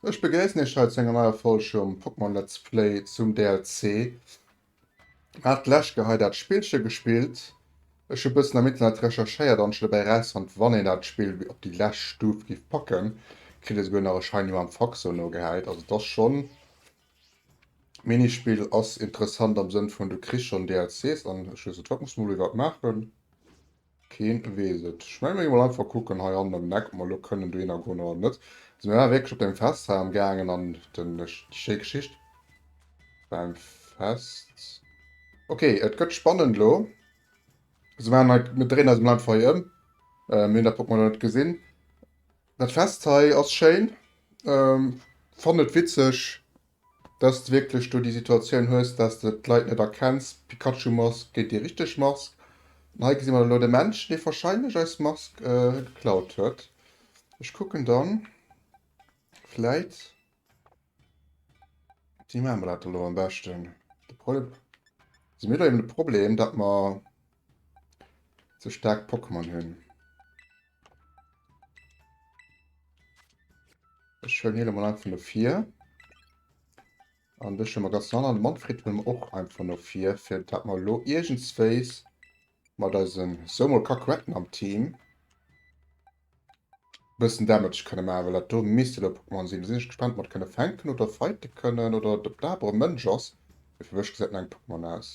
Ech begréissen Iech hei zu enger neier Folg vum Pokémon Let's Play zum DLC. Hat d'lescht Geheit dat Spillche gespillt? Ech hu bëssen am Internet recherchéiert an ech hu dobäi erausfonnt, wann een dat Spill op déi lescht Stuf giff packen, kritt ee souguer nach e Scheini mam Faxo nogehäit. Also et ass schonn, d'Minispill ass interessant am Sënn vun du kriss schonn DLCs an ech weess net wat, muss mer mol iwwer maachen. Keen wees et. Ech meng mir gin mol einfach kucken hei hannen an den Eck op mer elo kënnen dohin a goen oder net. Sin mir war wierklech op dem Fest hei am gaangen an den déi schéi Geschicht beim Fest. Ok et gëtt spannend elo. Sou man hei mir dréinen eis mol einfach hei em. Mir hun dat Portmano net gesin. Dat Fest hei ass schéin. Fannen et witzeg. dass de wierklech do déi Situatioun hues, dass de d'Leit net erkenns, Pikachu-Mask géint déi richteg Mask. An hei gesi mer dann elo de Männchen, dee wahrscheinlech eis Mask geklaut huet. Ech kucken dann, vläit wéi maache mer dat elo am beschten? De Problem, si mir elo eben de Problem, datt mer ze staark Pokémon hunn? Ech hëllen hie mal einfach no vir. An dech hëlle mer ganz an. An de Manfred hëlle mer och einfach no vir, fir dat mer elo iergendswéis mat eisem sou mol Kakuetten am Team e bëssen Damage kënne maachen. Well dat do misst elo e Pokémon sinn. Do sinn ech gespaant, ob mer et kënne fänken oder fighte kënnen oder ob dat awer e Mënsch ass. Mee fir mech gesäit et no engem Pokémon aus.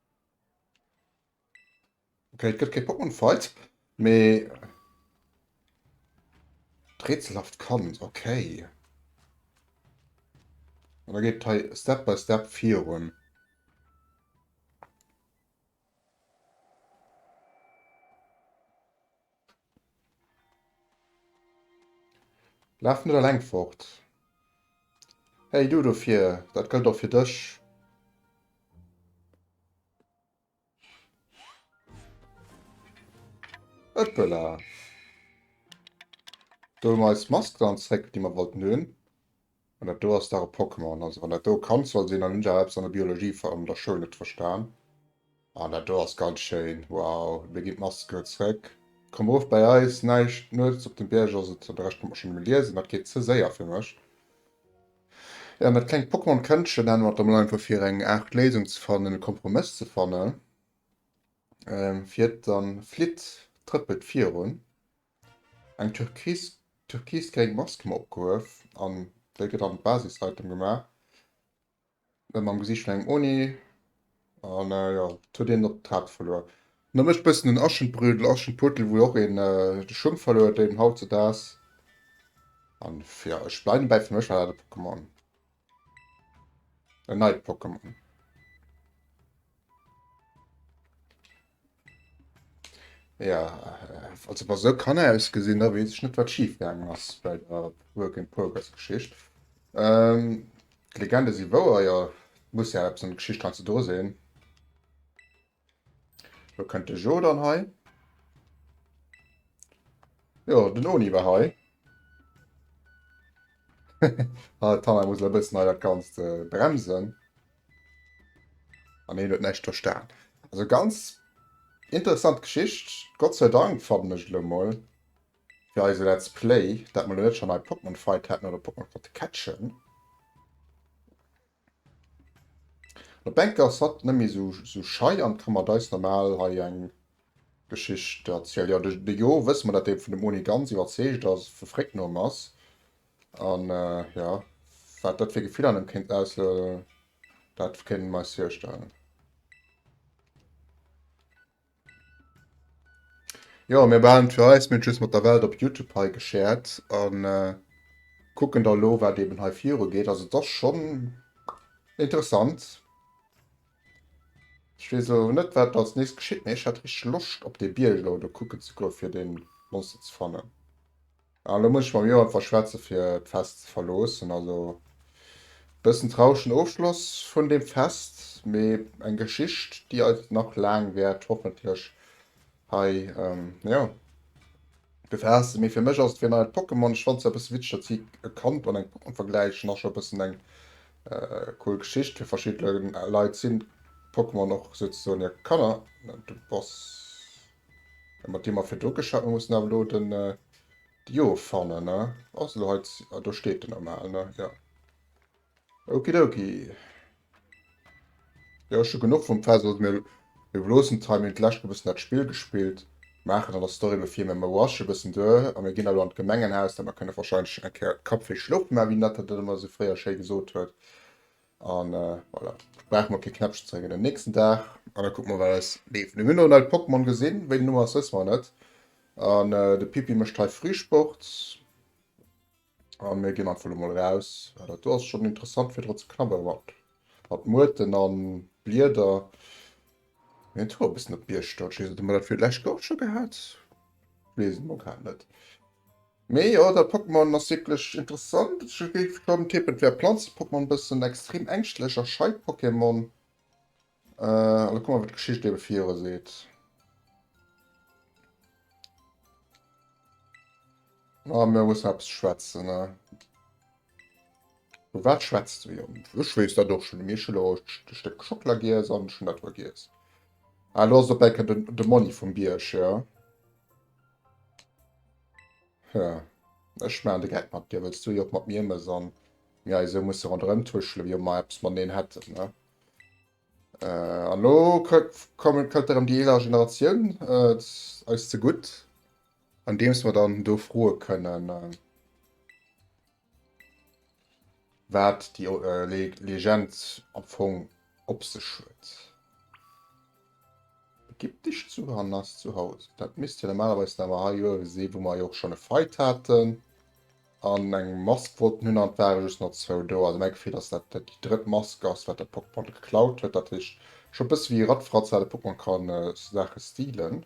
Okay, et gëtt kee Pokémon Fight, mee d'rätselhaft Kand, okay. An da geet et hei Step by Step virun. Laf net alleng fort. Hey du do vir, dat gëllt och fir dech. Ëppela. Do hu mer eis Mask dann zréck, déi mer wollten hunn. An dat do ass dach e Pokémon. Also wann dat do e Kand soll sinn, an hunn ech awer eppes an der Biologie an der Schoul net verstan. An dat do ass ganz schéin. Wow, mir ginn d'Maske zréck. Komm erof bäi eis. Näischt nuets op dem Bierg ass et. De Rescht konnt mer schonn emol liesen, dat geet ze séier fir mech. Jo, an dat klengt Pokémon-Këndchen hat mer et emol einfach fir eng Aart Léisung ze fannen, e Kompromëss ze fannen, fir et dann flitt trëppelt virun. Eng türkisgréng Mask hu mer opgehuef an déi gëtt an d'Basishaltung gemaach, ëm am Gesiicht vun engem Oni an jo, et huet een op d'Haart verluer. No mech bëssen den Aschenbrödel, Aschenputtel, wou och een de Schung verluer huet, deen haut ze daags an jo, ech bleiwen dobäi, fir mech war dat e Pokémon. En neit Pokémon. Ja, also bei so kann er ausgesehen, da weiß ich nicht, was schief gegangen ist bei der Work in Progress Geschichte. Ähm, die Legende sind wahr, ja, muss ja etwas an der Geschichte dran zu tun sein. Lo kënnt de Jo dann hei. Jo, den Oni war hei. ah, Tanner muss e bëssen hei dat Ganzt äh, bremsen. An heen huet näischt verstan. Also ganz interessant Geschicht. Gott sei Dank fannen ech lo mol fir eise Let's Play, dat mer lo net schon hei Pokémon Fight hatten oder Pokémon konnte catchen. Lo Beck ass hatt net méi esou schei an ka mat eis normal hei eng Geschicht erzielen. Jo, de Jo wësse mer, dat dee vun dem Oni ganz iwwerzeegt ass, vu Fréck no em ass. An jo, wat dat fir Gefiller an em kéint auslösen, dat kéinte mer eis virstellen. Jo mir behalen et fir eis, mir hunn et just mat der Welt op Youtube hei geshared an kucken da elo wat eben hei viru geet. Also et ass schonn interessant. Ech weess elo net wat do als nächst geschitt, mee ech hat richteg Loscht op dee Bierg elo do kucken ze goen fir dee Monster ze fannen. Ah lo muss ech mam Johan verschwätzen fir d'Fest ze verloossen. Also bëssen trauregen Ofschloss vun dem Fest, mee eng Geschicht déi eis nach laang wäert hoffentlech hei jo befaassen. Mee fir mech ass et wéi en neit Pokémon. Ech fannt se e bëssen witzeg datt si e Kand an eng Pokémon vergläichen. Ass scho e bëssen eng cool Geschicht. Fir verschidde Leit sinn Pokémon och souzesoen hir Kanner. Du bass. Mat deem Affer do geschafft. Mir mussen awer lo den Dio fannen, ne? Ass elo hei. Ah, do steet en normal, ne? Jo. Okidoki. Jo, ech hu genuch vum Fessel. Mir loossen d'Time. Mir hunn d'lescht e bëssen dat Spill gespillt. Maachen an der Story lo vill méi. Mir rushen e bëssen duer a mir ginn elo an d'Gemengenhaus. Mä mer kënne wahrscheinlech eng Kéier d'Kapp fir schloffe maachen, wéi d'Nette dat ëmmer esou fréier schéi gesot huet. An voilà, ech brauch mol kee Knäppchen ze drécken den nächsten Dag. An da kucke mer wat eis leeft. Mir hunn elo nei Pokémon gesinn, wéi den Numm ass wësse mer net. An de Pippi mécht hei Frühsport. An mir ginn einfach elo mol raus. Ah dat do ass schonn interessant fir dra ze knabberen mat mat Muerten an Blieder. Mir hunn d'Hoer e bëssen op d'Bierg stoen, ech weess net ob mer dat fir lech och scho gehat? Weess et mol grad net. Mee jo, dat Pokémon ass wierklech interessant. Ech géif schonn tippen, et wär Planze-Pokémon e bëssen extrem ängschtlech a schei d'Pokémon. An da kuck mol, wat d'Geschicht ebe viru seet. A mir mussen eppes schwätzen, ne? Vu wat schwätzt de? Jo, ech weess dat och schonn. Mee ech hunn elo e Stéck Schockela giess an ech hunn dat elo giess. Ah, elo ass et op Enn de Monni vum Bierg, jo. Hm, ech maachen de Geck mat dir, wëlls du jo och mat mir mëss an mir hei esou musse ronderëm tuschele wéi ob mer eppes mateneen hätten, ne? Äh, an elo kommen, kënnt erëm déi eeler Generatioun eis zegutt, andeems mer dann do froe kënnen. Wat déi Legend am Fong op sech huet. Ägyptesch Zuhand ass zu Haus. Dat misst jo normalerweis awer hei jo ewe si, wou mer jo och schonn e Fight haten. An eng Mask wollten hunn an et ware just nach zwou do. Also mäi Gefill ass, dat dat déi drëtt Mask ass, wat de Pokémon geklaut huet. Dat heescht, scho e bësse wéi e Rattfratz, wat e Pokémon kann Saache stealen.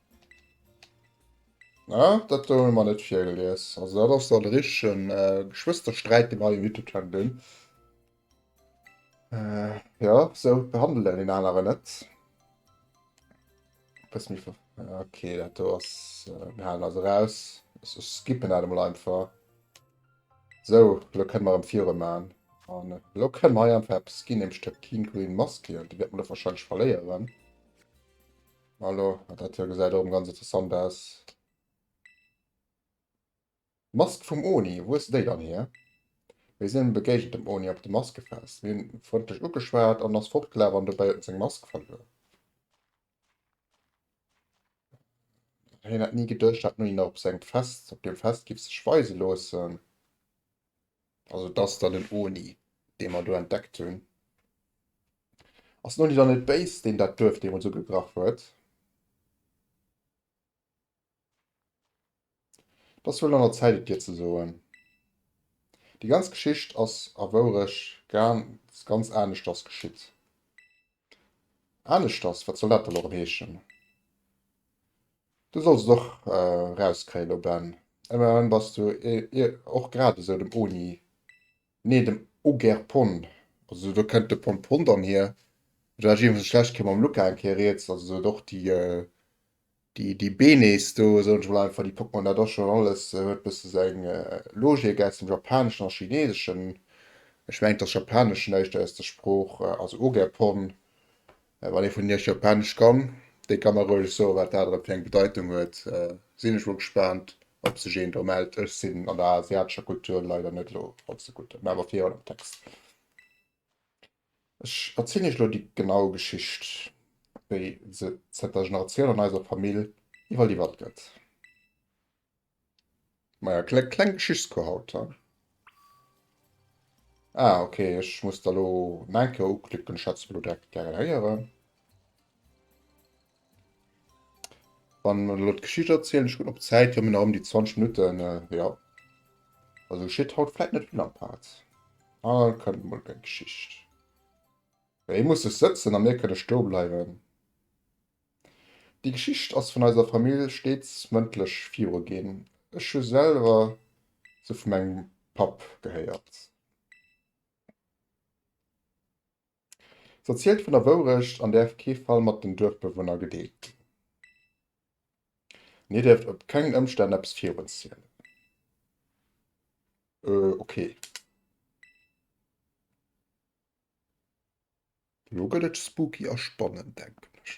Ah, dat do hunn mer net virgelies. Also dat ass dann e richtegen äh, Geschwëstersträit, dee mer hei um YouTube-Channel hunn. Äh, ja, esou behandelt een deen aneren net. Eppes méi ver... Okay, dat do ass... Äh, mir halen dat eraus. Ech skippen dat emol einfach. Esou, elo kënne mer erëm virun maachen. An elo kënne mer hei einfach eppes ginn, nämlech der Teen Green Mask. Déi wäerte mer elo warscheinlech verléieren. Hallo, dat hei gesäit erëm ganz interessant aus. Mask vum Oni, wou hues de déi dann hier? Mir sinn begéigent dem Oni op de Maskefest. Mir hunn e frëndlech ugeschwat an en ass fortgelaf an dobäi huet en seng Mask verluer. Hien hätt ni gedëscht, dat en Oni nach op sengem Fest, op deem Fest giff sech weise loossen. Also et ass dann den Oni, dee mer do entdeckt hunn. Ass den Oni dann net béis, deen dat Duerf deemools ugegraff huet? Et ass wuel an der Zäit, et dir ze soen. Déi ganz Geschicht ass a Wourecht ganz aneschters geschitt. Aneschters, wat soll dat dann och heeschen? Du solls et och rauskréien, lo Ben. Emmerhin bass du och grad esou dem Oni, nee dem Ogerpon, also do kennt de Pompon dann hier, du häss jedenfalls schlecht kee mam Luca eng Kéier riets, also sou et och déi Déi déi Benes do, soen ech mol einfach, déi packt man da do schonn alles, huet bësse sou eng Logik aus dem Japaneschen a Chineeseschen. Ech mengen, dass Japanesch näischt aus der Sprooch, also Ogepon, wann ee vun Iech Japanesch kann, dee ka mer roueg soen, wat dat erëm fir eng Bedeitung huet. Sinn ech mol gespaant, ob sech een do mellt. Ech sinn an der asiatescher Kultur leider net elo all ze gutt, mä awer virun am Text. Ech erzielen iech elo déi genau Geschicht, wéi se zënter Generatioun an eiser Famill iwwerliwwert gëtt. Maja, kleng, kleng Geschichtscours haut, he? Ah, ok, ech muss der elo Neinke uklicken, ech hätt se elo direkt gären héieren. Wann mer elo d'Geschicht erzielen, ech kucken op d'Zäit, jo mir nach ëm déi 20 Minutten, äh, ja. Also geschitt haut vläit net vill am Part. Ah, kënnt mol eng Geschicht. Ja, ee muss sech sëtzen a mir kënne stoe bleiwen. Déi Geschicht ass vun eiser Famill steets mëndlech viru ginn. Ech hu selwer se vu mengem Papp gehéiert. Se erzielt vun der Wourecht an däerf kee Fall mat den Duerfbewunner gedeelt ginn. An dir dierft op kengen Ëmstänn eppes virun zielen. Euh, okay. Elo gëtt et spooky a spannend, denken ech.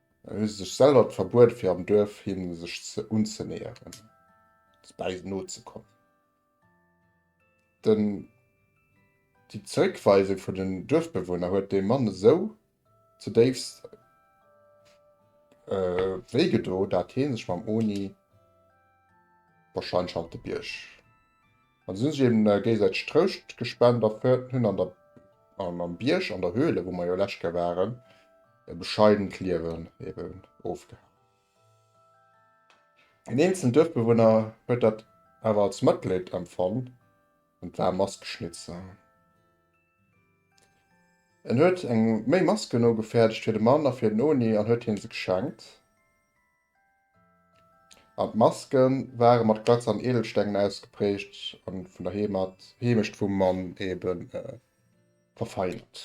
Hu sech selwer d'Verbuet fir am Duerf hinne sech ze unzenäheren bäi nozekommen. Den déi Zréckweisung vun den Duerfbewunner huet dem Mann esou ze déifst wéi gedo, dat hie sech mam Oni wahrscheinlech hannert de Bierg An sinn sech eben géigesäiteg Trouscht gespent a fëerten hunn an der an am Bierg an der Höhle, wou mer jo lescht Kéier waren, e bescheident Liewen eben ofgehalen. Een eenzelen Duerfbewunner huet dat awer als Mëtleed empfonn an d'waarm Mask geschnitze. En huet eng méi Masken nogefäerdegt fir de Mann a fir den Oni an huet hien se geschenkt. An d'Maske ware mat Glatz an Edelstengen ausgeprägt a vun der Heemecht vum Mann ebe verfeinert.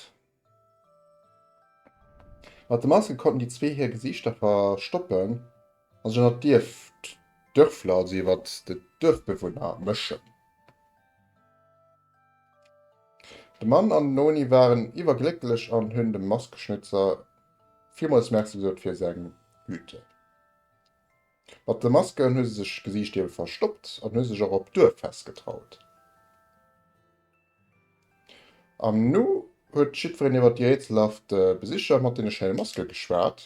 Mat de Maske konnten déi zwee hir Gesiichter verstoppen a sech ënnert d'Dierfler, also iwwer d'Duerfbewunner, mëschen. De Mann an den Noni waren iwwerglécklech an hunn dem Maskeschnitzer villmols Merci gesot fir seng Güte. Mat de Masken hu se sech Gesiicht ebe verstoppt an hu sech och op d'Duerffest getraut. An nu huet jiddwereen iwwert déi rätselhaft Besicher mat deene schéine Maske geschwat.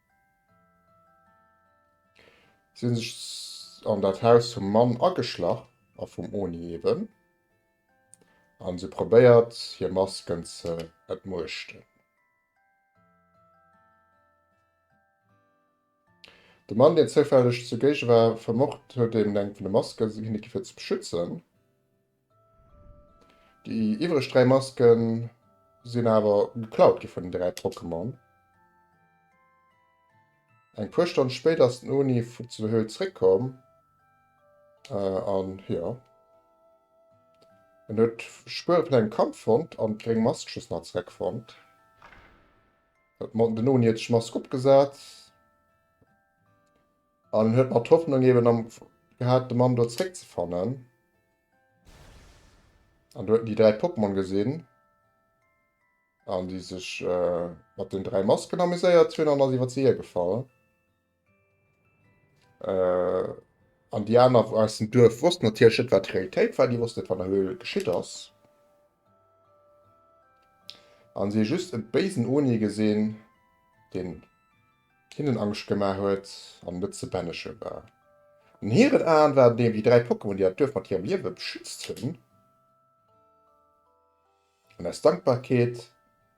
Si hunn sech an dat Haus vum Mann ageschlach a vum Oni eben, an si probéiert hir Masken ze entmuechten. De Mann deen zoufälleg zugéige war, vermocht huet eben eng vun de Masken si hinne gi fir ze beschützen, Déi iwwereg 3 Masken sinn awer geklaut gi vun den 3 Pokémon. Eng puer Stonn spéit ass den Oni vun zu der Höhl zréck komm an jo en huet Spuere vun engem Kampf fonnt an d'gréng Mask just nach zréck fonnt. Den Oni huet sech d'Mask opgesat. An en huet nach d'Hoffnung eben am gehat, de Mann do zréckzefannen. An do huet en déi dräi Pokémon gesinn. An déi sech äh, mat den dräi Masken amuséiert hunn an ass iwwer se hiergefall. Äh, an déi aner aus dem Duerf wossten natierlech net, wat d'Realitéit war. Déi wossten net, wat an der Höhl geschitt ass. An si hu just e béisen Oni gesinn, deen Hinnen Angscht gemaach huet an net ze bänneche war. An hiren Aen waren et eben déi dräi Pokémon, déi dat Duerf mat hirem Liewe beschützt hunn. An aus Dankbarkeet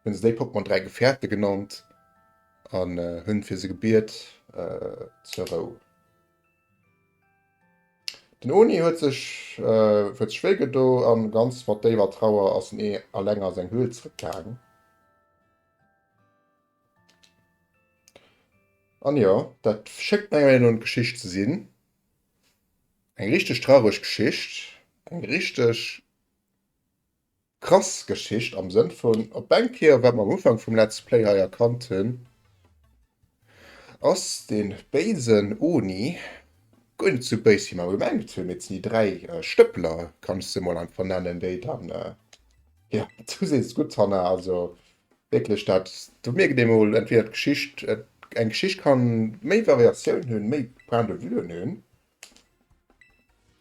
hunn se déi Pokémon dräi Gefährte genannt an hunn fir se gebiet zur Rou. Den Oni huet sech huet sech wéi gedo an ganz mat déiwer Trauer ass en ee alleng a seng Höhl zrëckgaang. An jo, dat schéngt menger Meenung no en Geschicht ze sinn. Eng richteg traureg Geschicht, eng richteg krass Geschicht am Sënn vun op eng Kéier, wat mer am Ufank vum Let's Play hei erkannt hunn, ass dee béisen Oni guer net esou béis wéi mer gemengt hunn, mee et sinn déi dräi Stëppeler, kann ech se mol einfach nennen, déi dann, jo, du sees et gutt, Hanna, also Wierklech, dat do mierkt ee mol entweder d'Geschicht, eng Geschicht ka méi Variatioun hunn, méi Point de vuen hunn.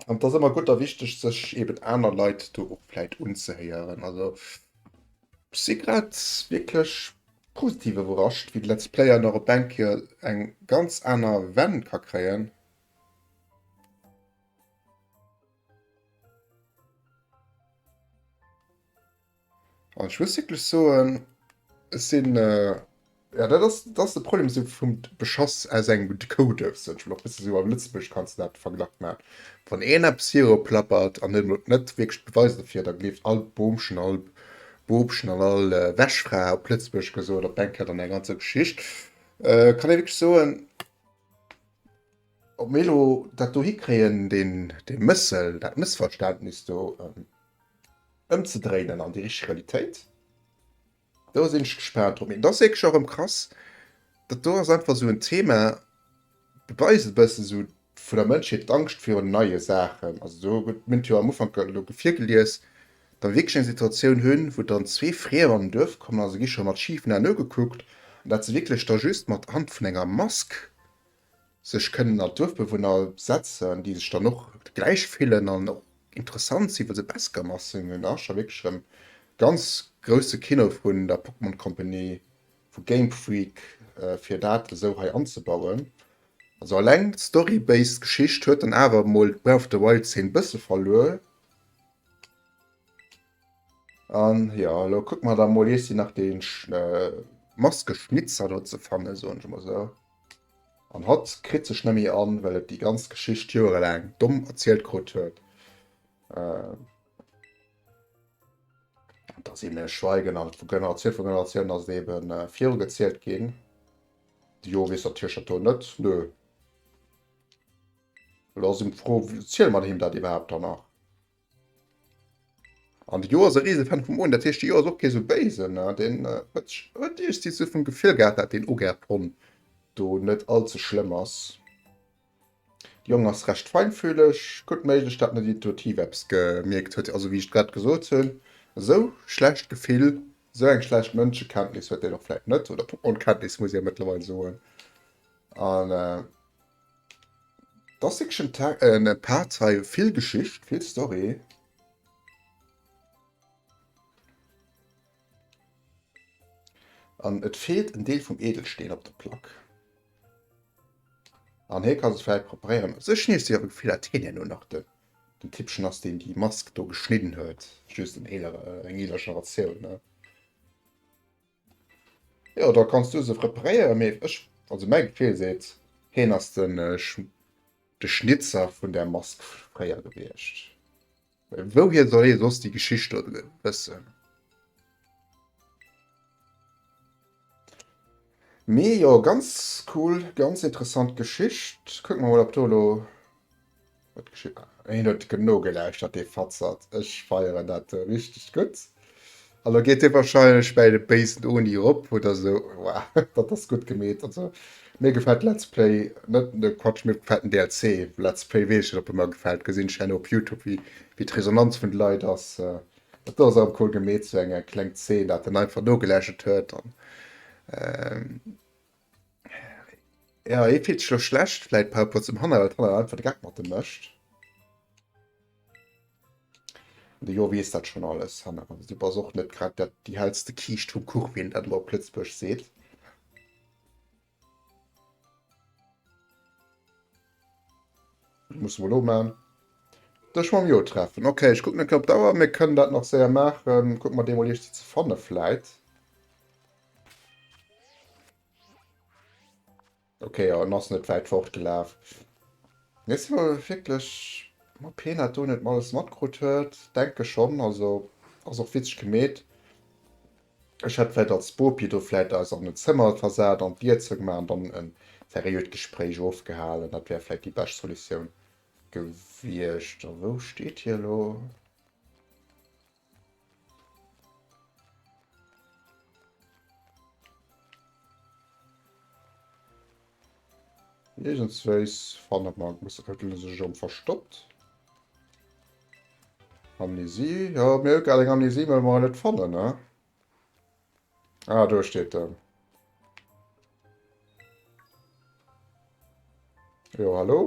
An et ass ëmmer gutt a wichteg, sech eben aner Leit do och vläit unzehéieren. Also ech si grad wierklech positiv iwwerrascht, wéi de Let's Player nach op eng Kéier eng ganz aner Wend ka kréien. Oh, ich muss wirklich soen, es sinn. Äh, ja, dat ass, dat ass de Problem so vum Beschass aus engem Decoder. So, ich will och bësse so am Lëtzebuerg kannst net Verglach machen. Wann een eppes hierop plappert an net, net wirklich Beweis dofir, da gleeft all Boomchen, all Bobchen an all äh, Wäschfra op Lëtzebuerg gesot, op eng Kéier dann eng ganzer Geschicht. Äh, kann ee wirklich soen, Ob mir elo dat do hikréien, deen, dee Mëssel, dat Mëssverständnis do ëmzedréinen an déi richteg Realitéit, do sinn ech gespaant drop. Mee et ass wierklech och erëm krass, dat do ass einfach esou en Thema, beweist e bëssen esou vun der Mënschheet, d'Angscht virun neie Saachen. Also do gëtt, mir hunn et jo am Ufank elo virgelies, datt mir wierklech eng Situatioun hunn, wou dann zwee Friemer an en Duerf kommen a se gi scho mat schifen Aen ugekuckt, an dat se wierklech da just mat Hand vun enger Mask sech kënnen an d'Duerfbewunner setzen, déi sech dann och gläich fillen an och interessant sinn, well se Beskamer sinn. An da ass scho wierklech erëm ganz grousse Kino vun der Pokémon Company, vu Game Freak, fir dat esou hei anzebauen. Also eleng d'story-based Geschicht huet dann awer emol d'Breath of the Wild-Zeen bësse verluer. An jo, elo kucken mer da mol iessi nach dee Maskeschnitzer do ze fannen, soen ech mol sou. An hatt kritt sech nemmi an, well et déi ganz Geschicht joerelaang domm erzielt krut huet, datt een e schweigen an et vu Generatioun vu Generatioun ass et ebe virugezielt ginn. Jo weess der Tiercher do net? Nö. Elo ass ëm d'Fro, ziele mer him dat iwwerhaapt dann nach? An de Jo ass e Risefan vum Oen, dat heescht de Jo ass och kee sou béisen. Deen huet huet eescht si sou vum Gefill gehat, dat deen Ogäert Hon do net all ze schlëmm ass. De Jong ass recht feinfühleg, gutt méiglech dat net intuitiv eppes gemierkt huet. Also wéi ech grad gesot hunn, esou schlecht Gefill, esou eng schlecht Mënschekenntnis huet deen och vläit net, oder Pokémon-Kenntnis muss ee jo mëttlerweil soen. An. Et ass wierklech en Tex-, en Part hei, vill Geschicht, vill Story. An et feelt en Deel vum Edelsteen op der Plack. An hie ka se vläit preparéieren. Also ech nees déi awer Gefiller, datt hien hir lo nach de Typpchen ass, deen déi Mask do geschnidden huet. Just en eelere, eng eeler Generatioun, ne? Jo da kanns du se preparéieren, mee ech, also mäi Gefil seet heen ass den de Schnitzer vun der Mask fréier gewiecht. Well wouhier soll hee soss déi Geschicht do wëssen? Mee jo ganz cool, ganz interessant Geschicht. Kucken mer mol op do elo. Hien huet genou gelauschtert dee Fatzert, ech feieren dat richteg gutt. An lo geet hie wahrscheinlech bäi de béisen Oni erop oder esou. Wow, dat ass gutt gemeet. Also mir gefält Let's Play, net de Quatsch, mir gefält den DLC. Let's Play weess ech net, ob e mer gefält, gesinn ech herno op Youtube wéi wéi d'Resonanz vun de Leit ass. Dat ass awer cool gemeet, sou eng kleng Zeen, dat en einfach nogelauschtert huet an. Ja, hie fillt sech elo schlecht vläit par rapport zum Hanna, well d'Hanna einfach de Geck mat em mécht. An de Jo weess dat schonn alles, Hanna. Du bass och net grad dat, déi hellste Kiischt vum Kuch, wéi een dat elo op Lëtzebuergesch seet. Muss mol omaan. Dech mam Jo treffen. Ok, ech kucken net op d'Auer, mir kënnen dat nach séier maachen. Kuck mer dee mol iech ze fanne vläit. Okay, ja, en ass net wäit fortgelaf. Nees si mer wierklech ma Peanut do net mer alles matkrut huet. Denke schonn, also ass och witzeg gemeet. Ech hätt vläit als Bopi do vläit eis an en Zëmmer versat, an d'Lietzer gemaach an dann e seriöt Gespréich ofgehalen. Dat wär vläit déi bescht Solutioun gewiescht. A wou steet hie elo? Iergendswéis fanne mer. Muss, huet en sech erëm verstoppt? Amnesie, jo mir hu grad eng Amnesie well mer en net fannen he. Ah do steet en. Jo hallo.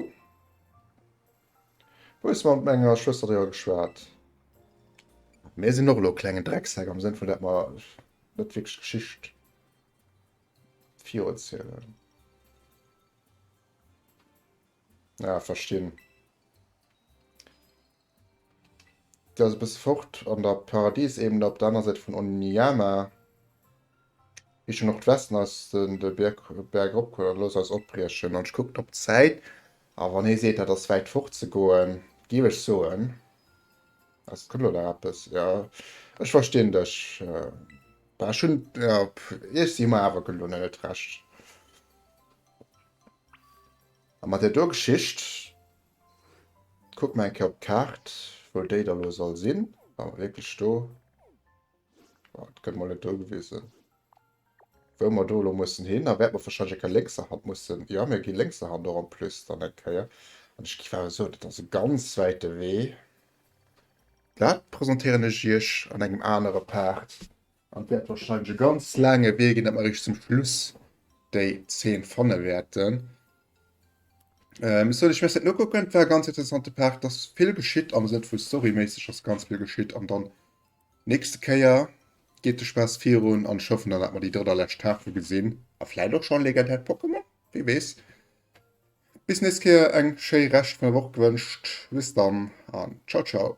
Wou hues de mat menger Schwëster driwwer geschwat? Mir sinn och elo e klengen Drecksäck am Sënn vun dat mer net wierklech Geschicht viruezielen. Ja, verstinn. Der ass e bësse fort an der Paradiesebene op der aner Säit vun Oniyama. Richtung Nordwesten ass den de Bierg, Berg erop geholl an looss eis opbriechen. An ech kucken op d'Zäit a wann hie seet, dat ass wäit fort ze goen, géif ech soen, ass kënnt elo nach eppes. Jo, ech verstinn dech. Bah, ech hunn, jo, ech si mar awer gelo net recht. A mat där do Geschicht, kucke mer eng Kéier op d'Kaart, wou déi da lo soll sinn. War mer wierklech do? Bon, et gëtt mol net do gewisen, wou mer do elo mussen hin. Da wäerte mer warscheinlech eng Kéier lénkserhand mussen. Jo, mir gi lénkserhand och en plus dann eng Kéier. An ech géif awer soen, dat ass e ganz wäite Wee. Dat presentéieren ech iech an engem anere Part. An et wäert warscheinlech e ganz laange Wee ginn, datt mer eréischt zum Schluss déi 10 fanne wäerten. Sou, ech wäert dat nokucken. Et war e ganz interessante Part. Et ass vill geschitt am Sënn vu storyméisseg ass ganz vill geschitt. An dann nächste Kéier geet de Spaass virun an ech hoffen dann, datt mer déi drëtt a lescht Tafel gesinn. A vläit och schonn legendäert Pokémon, wie weess. Bis nächst Kéier, eng schéi Rescht vun der Woch gewënscht. Bis dann an ciao ciao.